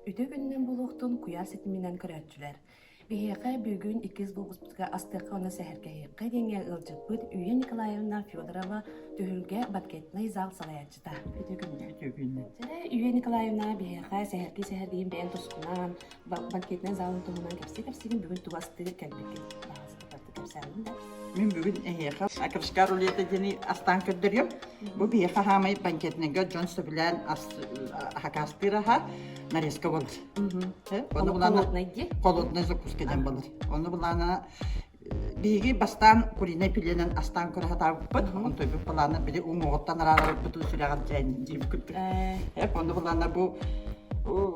Үтүө күнүнэн булуохтун куйаа ситиминэн көрөөччүлэр. Биһиэхэ бүгүн иккис глобуспутка астыахха уонна сэһэргэһиэххэ диэҥҥэ ыалдьыппыт Үйэ Николаевна Федорова түһүлгэ банкетнай зал салайааччыта. Үтүө күннэ. Үтүө күннэ. Сэрэ Үйэ Николаевна биһиэхэ сэһэрги сэһэргиин бэйэн тускунан банкетнай залын туһунан кэпсии кэпсиигин бүгүн тугастыы кэлбиккин. Мин бүгүн эһиэхэ акушка рулета диэни астаан көрдөрүөм. Бу биһиэхэ хаамай банкетнайга дьон сөбүлээн хакаастыыр аһа нарезка болар. Холоднай дии. Холоднай закуска диэн болар. Оны булаана биһиги бастаан куринай пиленен астаан көрө хатаабыппыт. Он тойбут балаана били уҥуоҕуттан араарабыппыт сүрэҕэр дьээн диибит курдук. Эп, оны булаана бу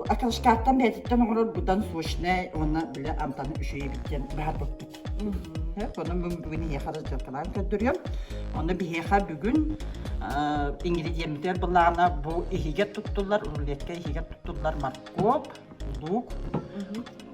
Акушкаттан бэйэтиттэн оҥорор будан сочный уонна били амтаны үчүгэйбит диэн баһарбыппыт. Онон бүгүн ийэхэ да дьылкалаан көрдөрүөм. Онно биһиэхэ бүгүн ингредиентер былаана бу иһигэ туттуллар, рулетка иһигэ туттуллар морковь, лук,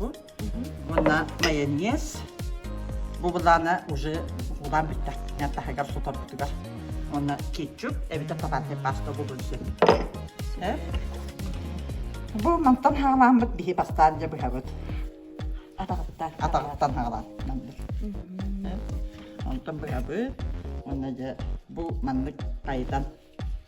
Уонна майонез. Бу былаана уже улаан бүттэ. Мен таһыгар сутарбытыгар. Уонна кетчуп, эбитэ тотальная паста бүгүн син. Бу мантан хаалааммыт биһи бастаан дьэ быһабыт. Атаҕыттан. Атаҕыттан хаалаан. Онтон быһабыт. Уонна дьэ бу маннык айдан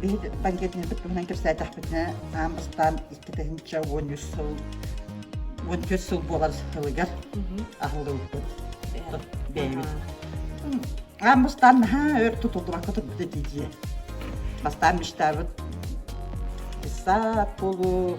Биһит панкетini туттубунан кэпсээтэхпитинэ аам ыстаан икки тыһынча уон үс сыл уон төрт сыл буолар сылыгар аһыллыбыппыт бэйэбит аам бастаан наһаа өр тутуллубакка турбута дии бастаан мечтабыт сап болу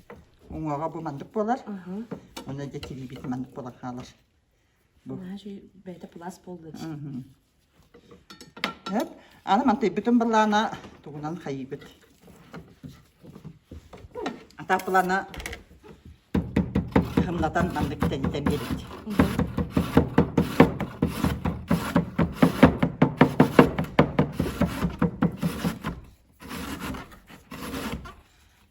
уҥаҕа бу маннык буолар. Оны дьэ тимибит маннык буолан хаалар. Бу. бэйэтэ пласт буолбут. Эп, аны мантыйбытын балана тугунан хайыбыт. Атапылана хымнатан маннык тэнитэн берет.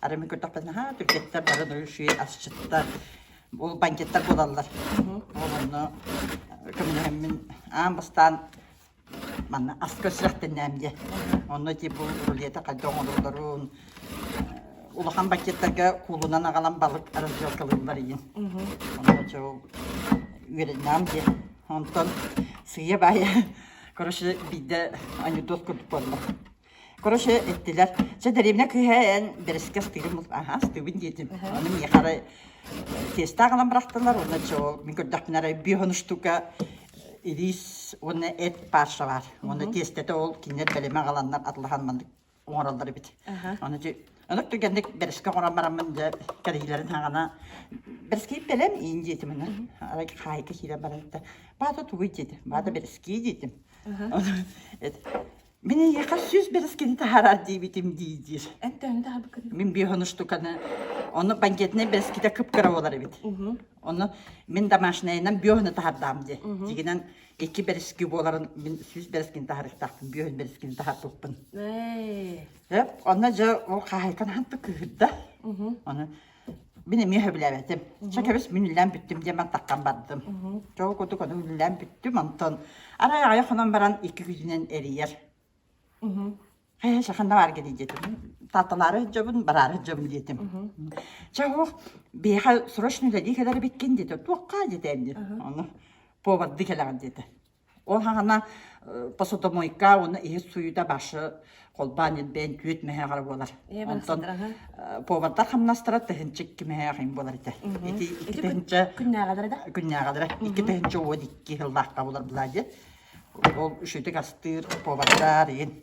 Арыми көрдөхпө наһаа түргэттэр бары нуюши асчыттар ол бандиттар буолаллар. Ол онно көмөлөһөммүн аан бастаан манна ас көрсүрэхтэннээм диэ. Онно ти бу рулета хайда оҥолордорун улахан бандиттарга куулунан агалан балык разделкалыын барыйын. Онно чо үөрэннэм диэ. Онтон сыйа бая, короче, бидэ анекдот курдук буолла. Короче, эттилэр, «Чэ, дэриэбинэ кыыһа эн бэрэскэ астыырын булт, аһаа, астыыбын» диэтим. Аха. Аны миэхэ эрэ тесттаах ылан бырахтылар уонна дьол мин көрдөхпүнэ эрэ бүөһүн штука илиис уонна эт пааша баар. Уонна тестэтэ ол кинилэр бэлэмэ аҕаланнар атылахан маннык оҥороллор эбит. Аха. Аны дьэ онук түргэнник бэрэскэ оҥорон бараммын дьэ кэриһилэрин хаҕана «Бэрэскэй бэлэм иин» диэтим аны. Арай хаайка киирэн баран этэ «Баата тугуй?» диэтим. «Баата бэрэскээ» диэтим. Аха. Эт Мин эйиэхэ сүүс бэрэскини таһаараар диэбитим дии диир. Эн төһөнү таһаарбыккын? Мин биохонуштуканы, ону бандьыытынай бэрэскитэ кып-кыра буолар эбит. Ону мин домашнайынан биоһону таһардаам дии. Дигинэн икки бэрэски буоларын мин сүүс бэрэскини таһарыктаахпын, биоһон бэрэскини таһарпыппын. Ээ. Э, онно дьэ ол хаһаайтан аһан да кыыһырда. Ону Мин эмиэ сөбүлээбэтим. Чэ, кэбис, мин үлэлээн бүттүм диэммин таххан бардым. Чоҕу курдук ону үлэлээн бүттүм, онтон арай аҕай хонон баран икки күнүнэн эрийэр. Хэ, шаханна баарга дии диэтим. Таатталаары сылдьабын, бараары сылдьабын диэтим. Чэ, оһох, биһиэхэ срочно үлэлии кэлэр эбиккин диэтэ. Туохха диэтэ эн диэн. Ону поварды кэлэҕин диэтэ. Ол хаана посудомойка уонна иһит суйуута башы холбаан ирбээн түөт мэһэҕэр буолар. Онтон повардар хамнастара тыһынчык кимэһэҕин буолар ити. Ити икки тыһынча күннээҕэдэрэ да? Күннээҕэдэрэ. Икки тыһынча уон икки сыллаахха булар былаа диэн. Ол үшүтүк астыыр повардар иһин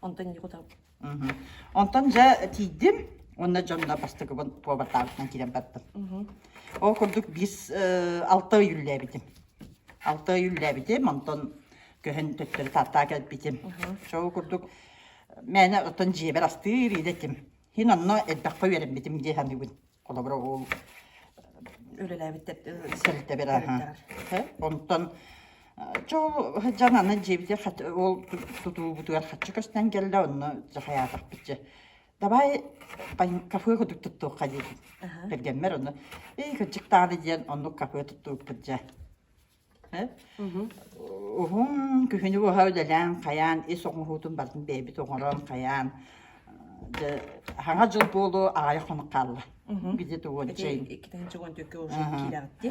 Онтон ньыкутал. Онтон дьэ тиийдим уонна дьонно бастакыбын повартаабытынан киирэн бардым. Ол курдук биир алта ый үллээбитим. Алта ый үллээбитим, онтон көһөн төттөрү Тааттаҕа кэлбитим. Ол курдук мээнэ оттон дьиэбэр астыыр идэтим. Иһин онно элбэххэ үөрэммитим дии саныыбын. Холобура ол үлэлээбит сэлитэбирааһа. Онтон чо дьон аны дьиэбитигэр ол тутуубутугар хаччы көстөн кэллэ онно дьахаятах биччи давай кафе кудук туттуохха дии кэргэммэр онно эй кырдьык тааны диэн оннук кафе туттууппут дьэ Уһун күһүнү быһа үлэлээн, хайаан ис оҥоһуутун барытын бэйэбит оҥорон, хайаан дьэ Саҥа дьыл буолуо аҕайа хонук хаалла. Где ты уончай? Иккитэнче он төркө уже киирээхтиэ.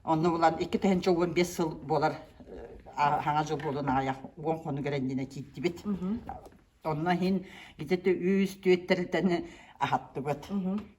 Онно булан иккитэнче он бес сыл буолар Саҥа дьыл буолуон аҕайа уон хонук эрэннинэ киирдибит. Онно иһин где ты үс түөттэритэн аһаттыбыт.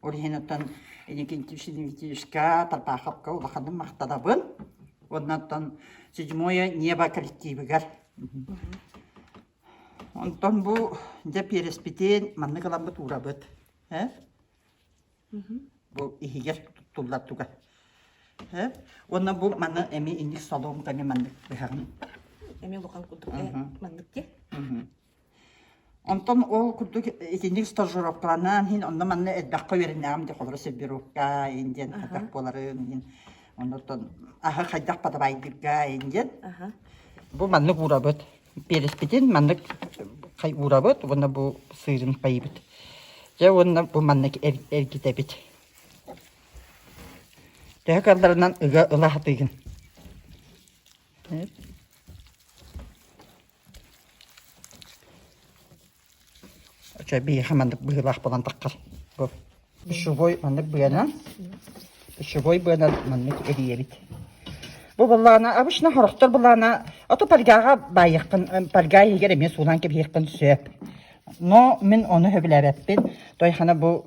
Ол иһин оттон Никитишка Тарбаховка улаханын махтанабын. Оннантон Седьмое небо коллективыгар. Онтон бу дьэ переспитин маннык ыламмыт уурабыт. Э? Бу иһигэр туттуллар туга. Э? Уонна бу манна эми инник солоом таҥы маннык быһаҕын. Эми лухан курдук маннык те. Онтон ол курдук итинник стажировкаланан иһин онно-манна элбэххэ үөрэнээм диэх олоро сөрбировка ин диэн хатах буоларын иһин онтон аһы хайдах подавайдыырга ин диэн бу маннык уурабыт переспитин маннык хай уурабыт уонна бу сыырын пайыбыт дьэ уонна бу маннык эргитэбит төһө калларынан ыга ыла сатыыгын Очо биэхэ маннык быһыылаах булан таххар. Пищевой маннык быанан пищевой быанан маннык эрийэбит. Бу буллаана обычно хорохтор буллаана оту пальгаға байықпын пальга иһигэр эмиэ суулаан кэбиһиэхпин сөп. Но мин оны сөбүлээбэппин. Той хана бу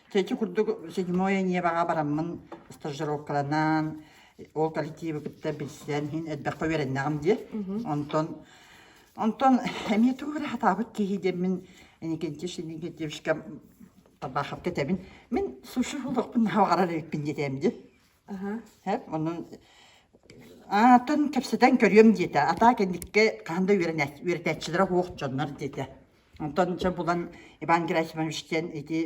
Чэчи курдук седьмое ньиэбэҕэ бараммын стажировкаланан, ол коллективы кытта билсэн иһин элбэххэ үөрэннэҕим дии. Онтон онтон эмиэ тугу эрэ сатаабыт киһи диэммин Никитич Никитичка Табаховка этэбин. Мин суши олохпун наһаа аҕарар эбиппин диэтээм дии. Эп, онон аатын кэпсэтэн көрүөм диэтэ. Атаа кэнникке хаһан да үөрэнээч- үөрэтээччилэрэ суох дьоннор диэтэ. Онтон дьэ булан Иван Герасимович диэн ити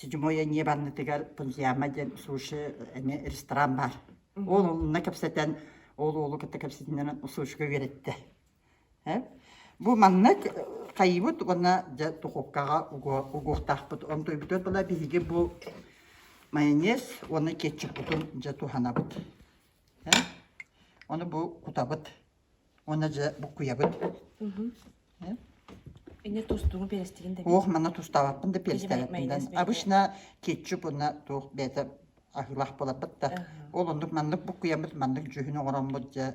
Седьмой Анне Ивановнатыгар Пантьяма диэн суши эмиэ ресторан баар. Ол онно кэпсэтэн, ол уолу кытта кэпсэтиннэрэн сушига үөрэттэ. Э? Бу маннык хайбыт уонна дьэ духовкаҕа угуохтаахпыт. Онтуйбутугар була биһиги бу майонез уонна кетчуппутун дьэ туһанабыт. Э? Ону бу кутабыт уонна дьэ буккуйабыт. Э? Инне тустугу перестигин да. Ох, мана тустабаппын да перестебеппин. Обычно кетчуп уонна туох бэйэтэ аһыылаах болаппыт да. Ол оннук маннык буккуйаммыт маннык дьүһүн оҥороммут дьэ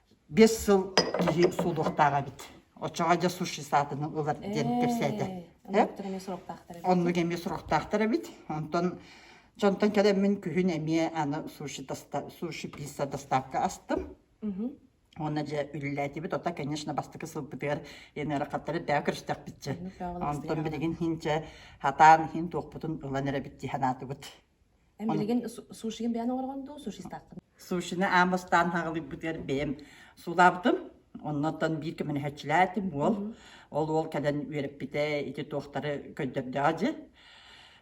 биэс сыл иһи суолуохтаах эбит. Оччоҕо дьэ суши саатаны ылар диэн кэпсээтэ. Оннук эмиэ сорохтаахтар эбит. Онтон дьонтон кэлэммин күһүн эмиэ аны суши доста суши пицца доставка астым. Уонна дьэ үлэлээтибит. Оттон конечно бастакы сылбытыгар янера хаттары бэйэ көрүстэхпит дьэ. Онтон билигин иһин дьэ хатаан иһин туохпутун ылан эрэбит дии санаатыбыт. Эн билигин сушигын бэйэн оҥоргон дуу, суши стаккын? Сушины аан бастаан хаҕылыйбытыгар бэйэм сулаабытым. Оннуттан биир көмөлөһөөччүлээтим уол. Ол уол кэлэн үөрэппитэ ити туохтары көрдөрдөҕө дьи.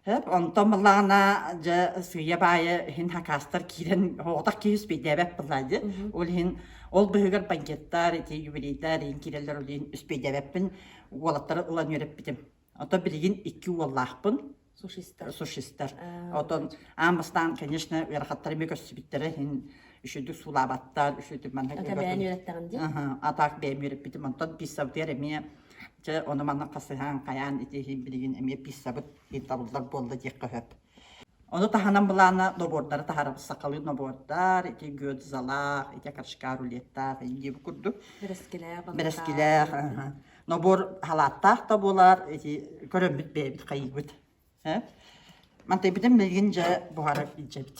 Һэп, онтон былаана дьэ сыыйа-баайа иһин хакаастар киирэн оҕотох кииспэйдээбэт былаа дьи. Ол иһин ол быһыгар банкеттар, ити юбилейтар иһин киирэллэр ол иһин испэйдээбэппин уолаттары ылан үөрэппитим. Ото билигин икки уоллаахпын. Сушистар. Сушистар. Отон аан бастаан, конечно, ыарахаттары ми көрсүбүттэрэ иһин үшүдүк суулаабаттар, үшүдүк манна Ата бэйэн үөрэттэҕим дии. Атаак бэйэм үөрэппитим. Онтон писсабытыгар эмиэ Чэ, ону манна хасыһаан, хайаан ити иһин билигин эмиэ писсабыт иһин табыллар буолла диэххэ сөп. Ону таһынан былаана нобуордары таһаарабыт. Сахалыы нобуордар, ити гёдзалаах, ити кашкар рулеттаах, ини бу курдук. Бэрэскилээх, балыктаах. Бэрэскилээх, аха. Нобуор халааттаах да буолар, ити көрөммүт бэйэбит хайыыбыт. Э? Мантайбытын билигин дьэ буһарар илдьэбит.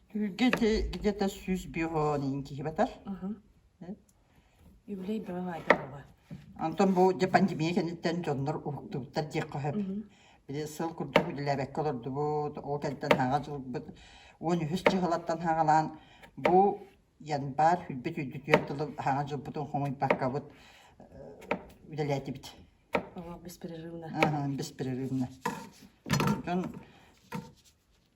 Түүлгэ дьэ дьэта сүүс биэс оонин киһибатар. Юбилей бөҕө айдар оба. Онтон бу дьэ пандемия кэнниттэн дьоннор уһуктубуттар диэххэ сөп. Били сыл курдук үлэлээбэккэ олордубут, ол кэнниттэн һаҕа дьылбыт уон үһүс дьыһалаттан һаҕалаан бу январь хүрбүт үйдү түөрт тылы һаҕа дьылбытын хомуйбаккабыт үлэлээтибит. О, беспрерывно. Аһаан беспрерывно. Дьон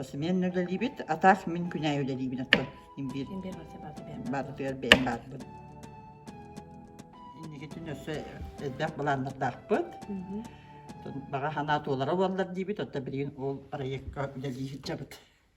Пасымен үлэлиибит, атаах мин күнәй үлэлиибин оттон имбир имбир баатытыгар бэйэн баатыбын. Инникитин өссө элбэх былааннардаахпыт. Баҕа санаа туолара буоллар диибит, оттон билигин ол проекка үлэлии сылдьабыт.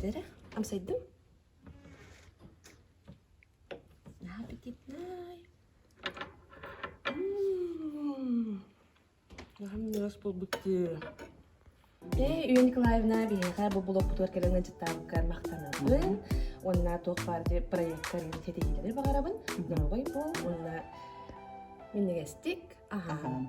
Тэрэ, амсайдым. Аппетитный. М. Аһым ньырас буолбут дии. Ээ, Үйүн Николаевна биһиэхэ бу блокпутугар кэлэн ыалдьыттаабыккар махтанабын. Уонна туох баар дьэ проекка арыйан ситиһиилэри баҕарабын. Доруобай буол уонна минньигэстик аһаан.